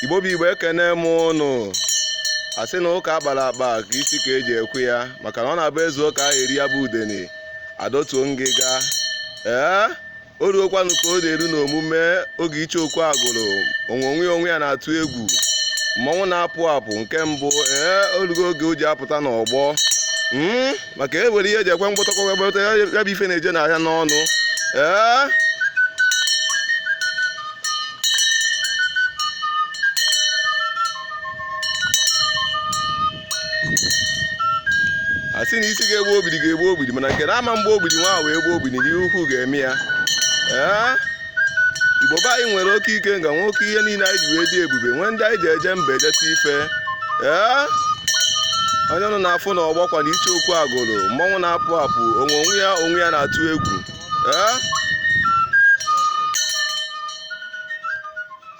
igbo bụ igbo ekene m ụnụ asị na ụka akpara akpa ka isi ka eji ekwe ya maka na ọ na-abụ ezuo ka aha eri ya bụ udene adọtuo ngịga ee o rugokwanụ ka ọ na-eru n'omume oge ichie okwu agụrụ onwe onwe ya onwe ya na-atụ egwu mmọnwụ na-apụ apụ nke mbụ ee orugo oge o ji apụta n'ọgbọ maka e nwere ihe eji ekwe mgbọtọkọ wee gbọta ya ya bụ ife na-eje n'ahịa n'ọnụ ee a sị na isi ga-egbu ogbidi ga-egbu ogbidi mana nke na ama mgbe ogbidi nwa ahụ wee gbuo ogbidi n'ihe ukwu ga-eme ya ee igbo be anyị nwere oke ike nga nwoke ihe niile anyị ji wee dị ebube nwee ndị anyị ji eje mba ejeta ife ee onye ụnụ na-afụ na ọgbakwa na ichie okwu agụrụ mmọnwụ na-apụ apụ onwe onwe ya onwe ya na-atụ egwu ee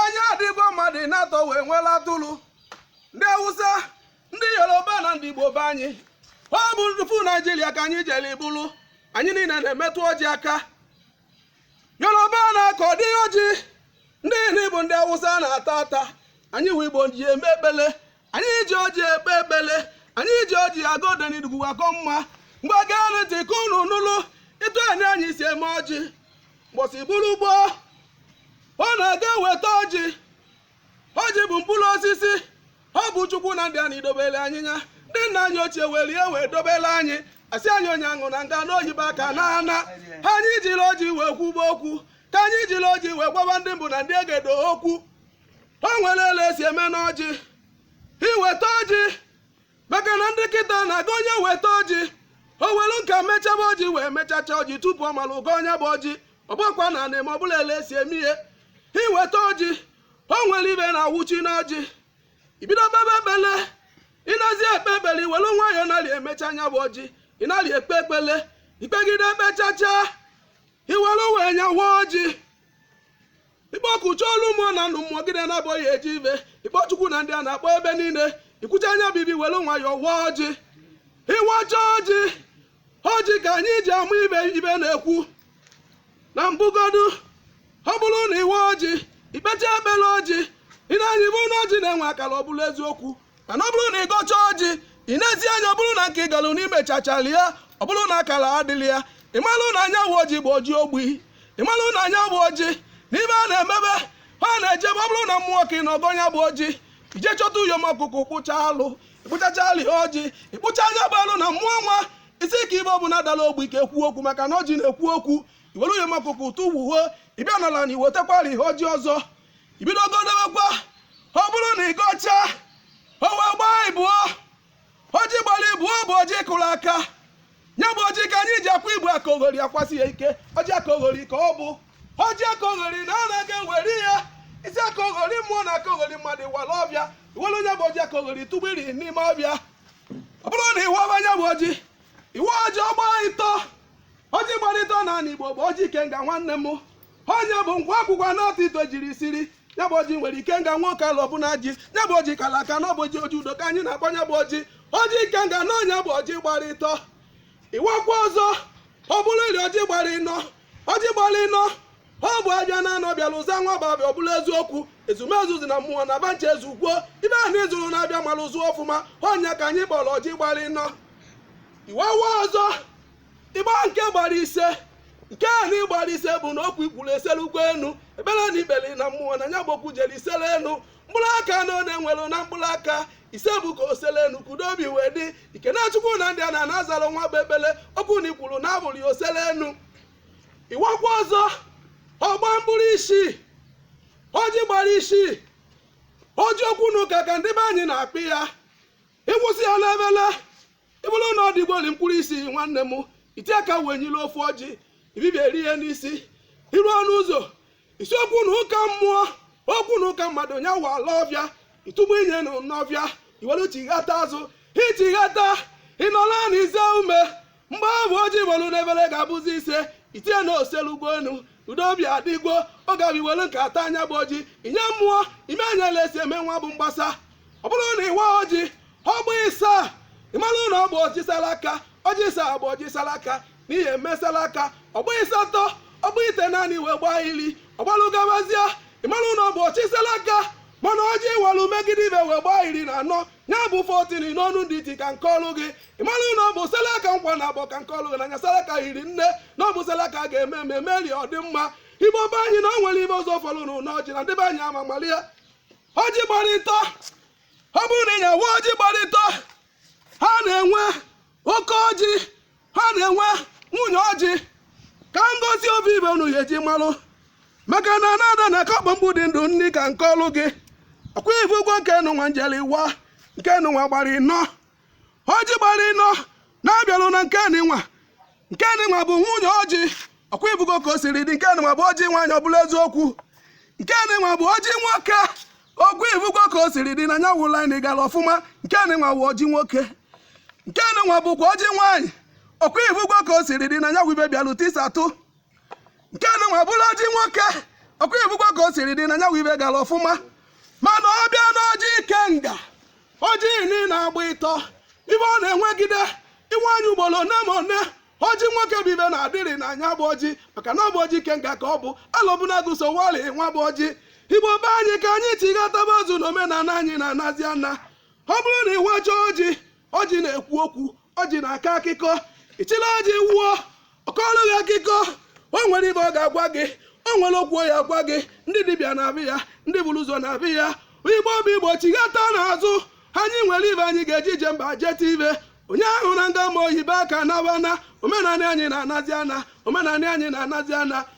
anyị adịgo mmadụ n'atọ wee nwela atụrụ ndị awụsa ndị yoruba na ndị igbo be anyị ọ bụ ndufu naijiria ka anyị jere ibulu anyị niile na-emetụ ọjị aka yoruba na-akọdị ọjị ndị niile bụ ndị awụsa na-ata ata anyị wụ igbo ji eme ekpele anyị ji ọjị ekpe ekpele anyị ji ọjị agọ ọdịnihu akọ mma mgbe gee ntị ka unu nụlụ etu anyị anyị si eme ọjị mbọsị ọbụla ugbo ọ na-aga eweta ọjị ọjị bụ mkpụrụ osisi ọ bụ chukwu na ndị anyị dobere anyị ya ndị nna anyị ochie were ihe wee dobere anyị asị anyị onye aṅụ na nga n'oyibo aka na ana anyị jiri ọjị wee kwuba okwu ka anyị jiri ọjị wee gwaba ndị mbụ na ndị egede okwu o nwere ele esi eme n'ọjị iweta ọjị maka na ndị kịta na-aga onye weta ọjị o welu aka mechaba ọjị wee mechacha ọjị tupu ọ mara ịgọ nya bụ ọjị ọgbakwa na anị ma ọ bụla ele esi eme ihe iweta ọjị o nwere ibe na-awụchi n'ọjị ibido kpebe ekpele ịnazi ekpe ekpele iwelu nwayọọ narị emecha nya bụ ọjị ị narị ekpe ekpele ikpegide ekpechacha iwelu wee nyawa ọjị ịkpọkuchaa olu mmụọ na ndụ mmụọ gịnị na-abụghị eji ibe ịkpọ chukwu na ndị a na-akpọ ebe niile ikwucha nya bụ ibe welu nwayọọ wa ọjị ịwacha ọjị ọjị ka anyị ji amụ ibe ibe na-ekwu na mbụgodu ọ bụrụ na ịwa ọjị ikpecha ekpere ọjị ị na-anyị bụ na ọjị na-enwe akara ọ bụrụ eziokwu mana ọ bụrụ na ị gọcha ọjị ị nezi anya ọ bụrụ na nke ị galụ n'ime chachala ya ọ bụrụ na akara adịla ya ị malụ na nya wụ ọjị bụ ọjị ogbi ị malụ na nya bụ ọjị n'ime a na-emebe ha na-ejebe ọ bụrụ na mmụọ ka ị na-agọ ya bụ ọjị ije chọta uyom ọkụkụ kpụcha alụ ịkpụchacha alụ ya ọjị ịkpụcha nya bụ alụ na mmụọ nwa isi ka ibe ọbụla dara ogbi ka ekwu okwu maka na ọjị na-ekwu okwu iwere uyom ọkụkụ tufuo ịbịa n'ala na iwetekwara ihe ọjị ọzọ ibido godowekwa ọ bụrụ na ị gọchaa o wee gbaa ịbụọ ọjị gbara ịbụọ bụ ọjị kụrụ aka ya bụ ọjị ka anyị ji akpọ igbo aka oghori a kpọsie ya ike ọjị aka oghori ka ọ bụ ọjị aka oghori na anaghị ewere ya ị sị aka oghori mmụọ na aka oghori mmadụ wara ọvịa i were nya bụ ọjị aka oghori tụvunye n'ime ọvịa ọ bụrụ na ị waba nya bụ ọjị ị waa ọjị ọ gbaa ịtọ ọjị gbara ịtọ na ala igbo bụ ọjị ikenga nwanne m ọ nya bụ nkwa akwụkwa n'atọ ite jiri siri ya bụ ọjị nwere ikenga nwoke ala ọbụla ji ya bụ ọjị kala aka na ọ bụ ọjị ọjị udo ka anyị na-akpọ ya bụ ọjị ọjị ikenga na ọ nya bụ ọjị gbara ịtọ ị wakwa ọzọ ọ bụrụlị ọjị gbara ịnọ ọjị gbara ịnọ ọ bụ avịa na anọ bịara ụza nwa bụ avịa ọ bụla eziokwu ezumezu dị na mmụọ na va ncha ezukwuo ive ahụ ị zụrụ n'avịa mara ụzụ ọfụma ọ nya ka anyị kpọrọ ọjị gbara ịnọ ị wawa ọzọ ịgba nke gbara ise nke a na ịgbara ise bụ na okwu i kwuru eserugo enu ekpere na i kpere na mmụọ na nya bụ okwu jere isere enu mkpụrụ aka na onye nwere na mkpụrụ aka ise bụ ka o sere enu ka udo obi wee dị ike na chukwu na ndị ana na-azara nwa bụ ekpere okwu na i kwuru na-abụrụ ya o sere enu ị wakwa ọzọ ọ gbaa mkpụrụ isii ọjị gbara isii ọjị okwu na ụka ka ndị be anyị na-akpọ ya ị wụzie ya n'evele ị vụrụ na ọ dịgoli mkpụrụ isii nwanne m i ti aka welie ofu ọjị ibibi eri ihe n'isi i ruo ọnụ ụzọ ị sị okwu na ụka mmụọ okwu na ụka mmadụ nya wala ọvịa ị tụvunye nụ n'ọvịa i wee chighata azụ i chighata ị nọ ala na i zuo ume mgbe ahụ ọjị i nwelu n'evele ga-abụzi ise i tinye na o selugo enu udo obi adịgo ọ gabi welu nke a taa nya bụ ọjị i nye mmụọ ime enyela esi eme nwa bụ mgbasa ọ bụrụ na ị waa ọjị ọ gbaa ịsaa ị mara na ọ bụ ọjị sara aka ọjị ịsaa bụ ọjị sara aka n'ihi emesara aka ọ gbaa ịsatọ ọ gbaa itenaanị wee gbaa iri ọ gbalụ gabazie ị mara na ọ bụ ọjị sara aka mana ọjị ị walụ megide ibe wee gbaa iri na anọ ya bụ fourteen n'ọnụ ndị iti ka m kọrọ gị ị mara na ọ bụ sara aka nkwa naabọ ka m kọrọ gị na nya sara aka rinne na ọ bụ sara aka ga-eme eme meri ọdịmma igbo be anyị na o nwere ive ọzọ fọrọ n'ụlọ ọjị na ndị be anyị ama mara ya ọjị gbara ịtọ ọ bụrụ na ị ya-awa ọjị gbara ịtọ ha na-enwe oke ọjị ha na-enwe nwunye ọjị ka m gosi ovu ive unu ya-eji malụ maka na na-ada na akakpọ mgbu dị ndụ nri ka m kọlụ gị ọkwa ị vụgo nke nụnwa m jeli wa nke nụnwa gbara ịnọ ọjị gbara ịnọ na-abịalụ na nke nwa nke nwa bụ nwunye ọjị ọkwa ị vụgo ka o siri dị nke nwa bụ ọjị nwaanyị ọ bụla eziokwu nke nwa bụ ọjị nwoke ọkwa ị vụgo ka o siri dị na nya wụla anyị gara ọfụma nke nwa bụ ọjị nwoke nke nwa bụkwa ọjị nwaanyị ọkwa ị vụgo ka o siri dị na nya wube bịalụ tisa atụ nke nụwa bụrụ ọjị nwoke ọkwa ebugwa ka o siri dị na nyanwụ ibe gara ọfụma mana ọ bịa n'ọjị ikenga ọjị nị na-agba ịtọ ibe ọ na-enwegide iwe anyị ugboro one ma one ọjị nwoke bụ ibe na-adịrị na nya bụ ọjị maka na ọ bụ ọjị ikenga ka ọ bụ alọbụnagụ so wali nwa bụ ọjị igbo be anyị ka anyị chighataba azụ na omenala anyị na-anazi ana ọ bụrụ na ị wachaa ọjị ọjị na-ekwu okwu ọjị na-akọ akụkọ ị chịla ọjị wụọ ọ kọọlụ gị akụkọ o nwere ibe ọ ga-agwa gị o nwere okwu ọ ga-agwa gị ndị dibịa na-abịa ya ndị buru ụzọ na-abịa ya igbo bụ igbo chighata n'azụ anyị nwere ibe anyị ga-eji ije mba jeta ibe onye ahụ na nga ma oyibo aka nawana omenanị anyị na-anazi ana omenanị anyị na-anazi ana